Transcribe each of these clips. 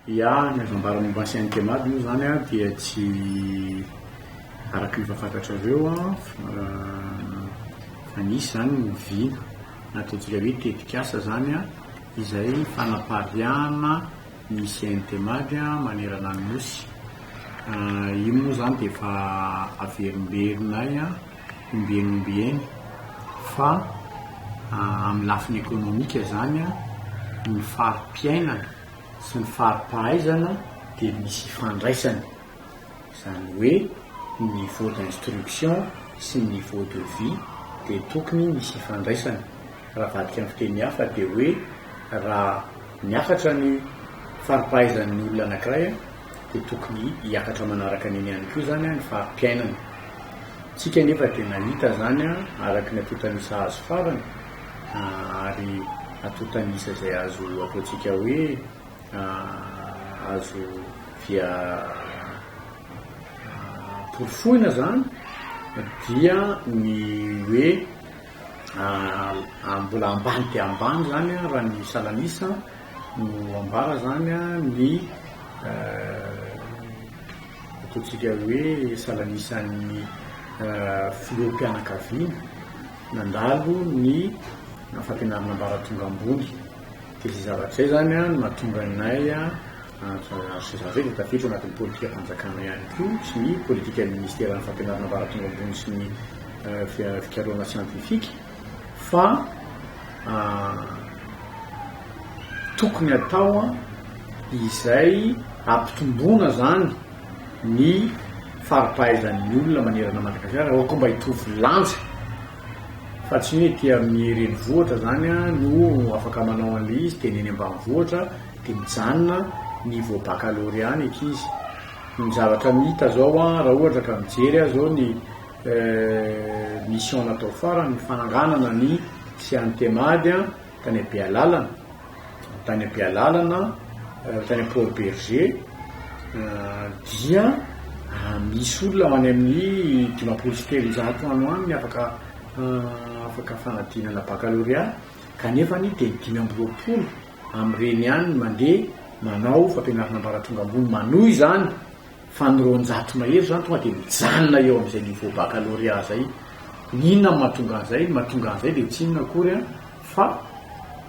Ya, ny azo ambara momba an'i Saint-Emady moa izany dia tsy araka ny efa fantatrareo fa nisy izany ny oviana na ataontsika hoe tetikasa izany izay fanapariahana ny Saint-Emady manerana ny Nosy. Io moa izany dia efa averimberina ahy. ombieny ombieny fa amin'ny lafiny ekonomika izany ny fari-piainana sy ny fari-pahaizana dia misy ifandraisany, izany hoe ny niveau d'instruction sy ny niveau de vie dia tokony misy ifandraisany, raha avadika amin'ny fiteny hafa dia hoe raha miakatra ny fari-pahaizan'ny olona anankiray dia tokony hiakatra manaraka an'iny ihany koa izany ny fari-piainana. Isika anefa dia nahita izany araka ny antontan'isa azo farany, ary antontan'isa izay azo ataontsika hoe azo via porofoina izany dia ny hoe. mbola ambany dia ambany izany raha ny salan'isa no ambara izany ny ataontsika hoe salan'isan'ny filoham-pianakaviana nandalo ny fampianarana ambaratonga ambony. Dia izay zavatra izay izany no mahatonga anay Antsirabe tafiditra ao anatin'ny politikam-panjakana ihany koa sy ny politikan'ny Minisiteran'ny Fampianarana Ambaratonga Ambony sy ny Fikarohana Siantifika fa tokony hatao izay hampitomboana izany ny fari-pahaizan'ny olona manerana an'i Madagasikara raha ohatra koa mba hitovy lanja Fa tsy hoe ety amin'ny renivohitra zany no afaka manao an'ilay izy dia ny eny ambanivohitra dia mijanona ny vao baccalauréat ny ankizy. Ny zavatra mita zao raha ohatra ka mijery ahy zao ny mission natao farany ny fananganana ny CNTEMAD tany Bealalana, tany Bealalana, tany Port Berger, dia misy olona any amin'ny dimampolo sy telonjato any ho any afaka afaka fanadinana bakalôrea, kanefa ny dia dimy amby roapolo amin'ireny ihany no mandeha manao fampianarana ambaratonga ambony manohy izany. Fa ny roanjato mahery zany tonga de mijanona eo amzay niveau baccalauréat zay, ny inona no mahatonga anzay, ny mahatonga anzay de tsy inona akory an fa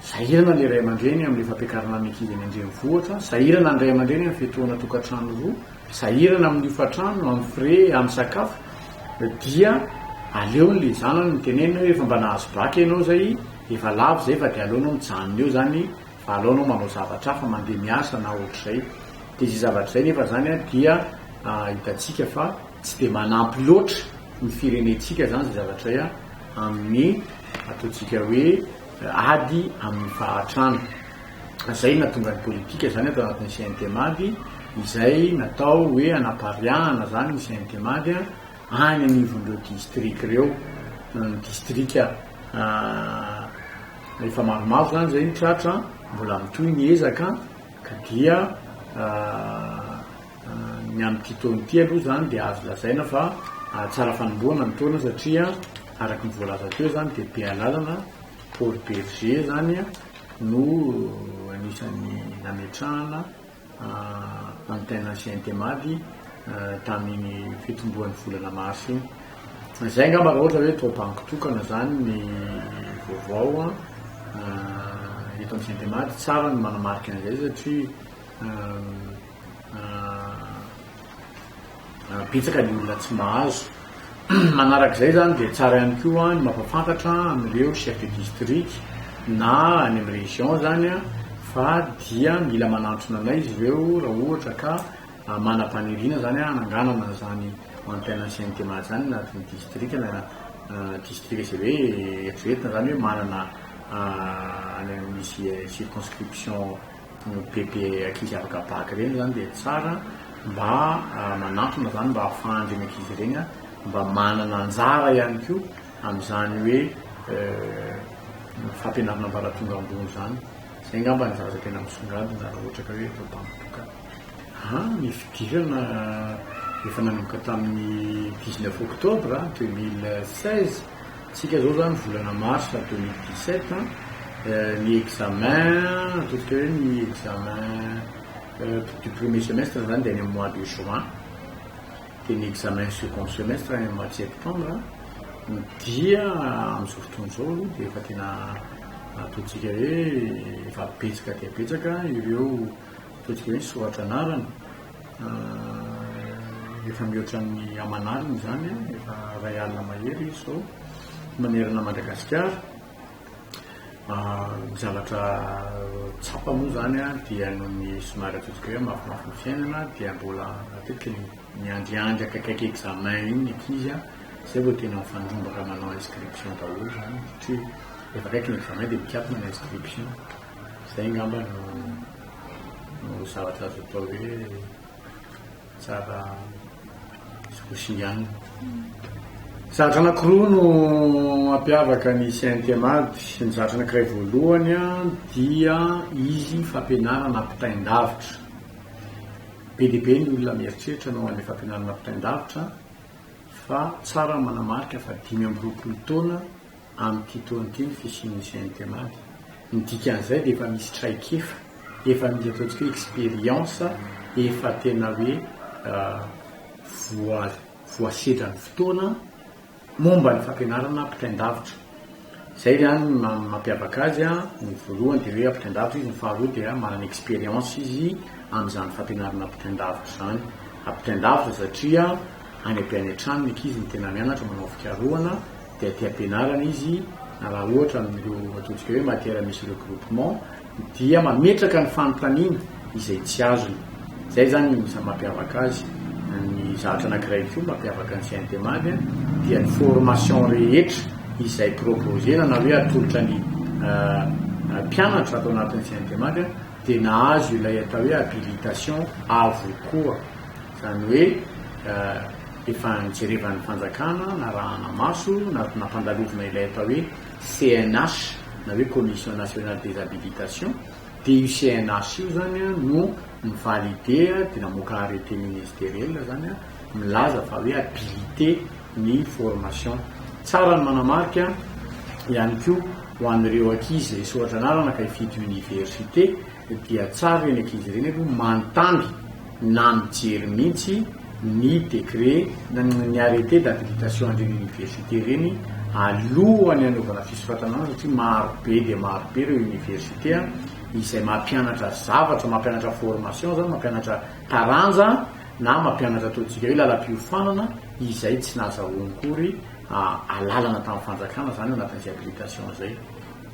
sahirana le ray aman-dreny amle fampiakarana ny ankizy any an-drenivohitra, sahirana ny ray aman-dreny am fiatohana tokantrano roa, sahirana am hofan-trano, am frais, am sakafo, dia aleony le zanany no tenenina hoe efa mba nahazo bac enao zay, efa lavo zay fa de aleonao mijanona eo zany fa aleonao manao zavatra hafa, mande miasa na ohatrizay, Dia izay zavatra izay nefa izany dia hitantsika fa tsy dia manampy loatra ny firenentsika izany izay zavatra izay amin'ny ataontsika hoe ady amin'ny fahantrana. Izay no nahatonga ny politika izany ato anatin'ny CNTMady izay natao hoe hanapariahana izany ny CNTMady any anivon'ireo distrika ireo, ny distrika efa maromaro izany izay no tratra, mbola mitohy ny ezaka. Ka dia ny amin'ity taona ity aloha izany dia azo lazaina fa tsara fanombohana ny taona satria araka ny voalaza teo izany dia Bealalana, Port Bergé izany no anisan'ny nametrahana antenne Sientema-dy tamin'iny fitomboan'ny volana marsa iny. Zay angamba raha ohatra hoe tao banky tokana zany ny vaovao an, eto amin'ny Gentemad, tsara ny manamarika an'izay satria betsaka ny olona tsy mahazo. Manarak'izay zany dia tsara ihany koa ny mampafantatra amin'ireo chef de district na any amin'ny région zany an fa dia mila manantona anay izy ireo raha ohatra ka Manam-paniriana izany aho hananganana izany antenne ancienne Tematy izany anatin'ny distrika na distrika izay hoe eritreretina izany hoe manana any amin'ny misy circonscription bebe ankizy afaka bac ireny izany dia tsara mba manantona izany mba ahafahan'ireny ankizy ireny mba manana anjara ihany koa amin'izany hoe fampianarana ambaratonga ambony izany. Izay angamba no zavatra tena misongadina raha ohatra ka hoe eto Behoririka. An, ny fidirana efa nanomboka tamin'ny dix neuf octobre deux mille seize, isika izao izany volana mars deux mille dix sept an, ny examen, ataontsika hoe ny examen du premier semestre izany dia any amin'ny mois de juin, dia ny examen second semestre any amin'ny mois de septembre, dia amin'izao fotoana izao aloha dia efa tena ataontsika hoe efa betsaka dia betsaka ireo. Matetika hoe soratra anarana, efa mihoatra ny aman'alina izany, efa iray alina mahery izy izao manerana Madagasikara. Ny zavatra tsapa moa izany dia noho ny somary ataontsika hoe mafimafy ny fiainana dia mbola matetika ny miandriandry akaikaiky examen iny ny ankizy, izay vao tena mifandrombaka manao inscription daholo izany satria rehefa akaiky ny examen dia mikatona ny inscription. Izay angamba no zavatra azo atao hoe tsara sy ho singanina. Zavatra anankiroa no mampiavaka ny CNTMAD sy ny zavatra anankiray voalohany dia izy fampianarana ampitain-davitra. Be dia be ny olona mieritreritra ny ho an'ilay fampianarana ampitain-davitra fa tsara ny manamarika fa dimy amby roapolo taona amin'ity taona ity ny fisian'io CNTMA io. Ny dikan'izay dia efa misy traikefa, efa misy ataontsika hoe expérience efa tena hoe voasedra ny fotoana momba ny fampianarana ampitain-davitra. Izay izany no maha mampiavaka azy, ny voalohany dia hoe ampitain-davitra izy, ny faharoa dia manana expérience izy amin'izany fampianarana ampitain-davitra izany. Ampitain-davitra satria any be any an-trano ny ankizy no tena mianatra manao fikarohana. dia te hampianarana izy na raha ohatra amin'ireo ataontsika hoe matière misy regroupement dia mametraka ny fanontaniana izay tsy azony. Izay izany no isan'ny mampiavaka azy. Ny zavatra anankiray koa mampiavaka ny CNTMAG dia ny formation rehetra izay proposer-na na hoe atolotra ny mpianatra ato anatin'ny CNTMAG dia nahazo ilay atao hoe habilitation avokoa. Izany hoe efa nijerevan'ny fanjakana, narahana maso, nampandalovina ilay atao hoe CNH na hoe Commission Nationale des Habilitations, dia io CNH io izany no mi-valider dia namoaka arrêté ministériel izany milaza fa hoe habiliter ny formation. Tsara ny manamarika ihany koa ho an'ireo ankizy resy ohatra anarana ka hifidy université, dia tsara ireny ankizy ireny aloha manontany na mijery mihitsy ny décret na ny arrêté d'habilitation an'ireny université ireny alohan'ny hanaovana fisoratana an'azy satria maro be dia maro be ireo université izay mampianatra zavatra, mampianatra formation izany, mampianatra taranja na mampianatra ataontsika hoe lalam-piofanana izay tsy nahazahoany akory alalana tamin'ny fanjakana izany anatin'izay habilitation izay.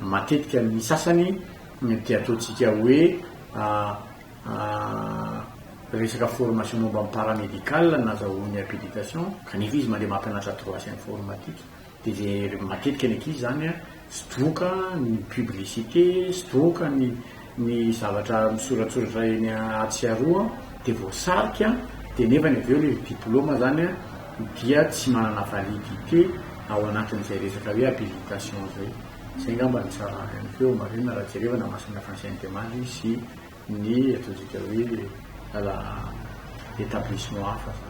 Matetika ny sasany ny dia ataontsika hoe resaka formation momba ny paramédical no nazahoany habilitation kanefa izy mandeha mampianatra droits informatiques dia izay matetika ny ankizy izany sidroka ny publicité, sidroka ny ny zavatra misoratsoratra eny atsy sy aroa dia voasarika dia nefany avy eo ilay diplôme izany dia tsy manana validité ao anatin'izay resaka hoe habilitation izay. Izay angamba no tsara ihany koa marihina raha jerevana masina fa ny Sainte-Marie sy ny ataontsika hoe lala établissement hafa fa.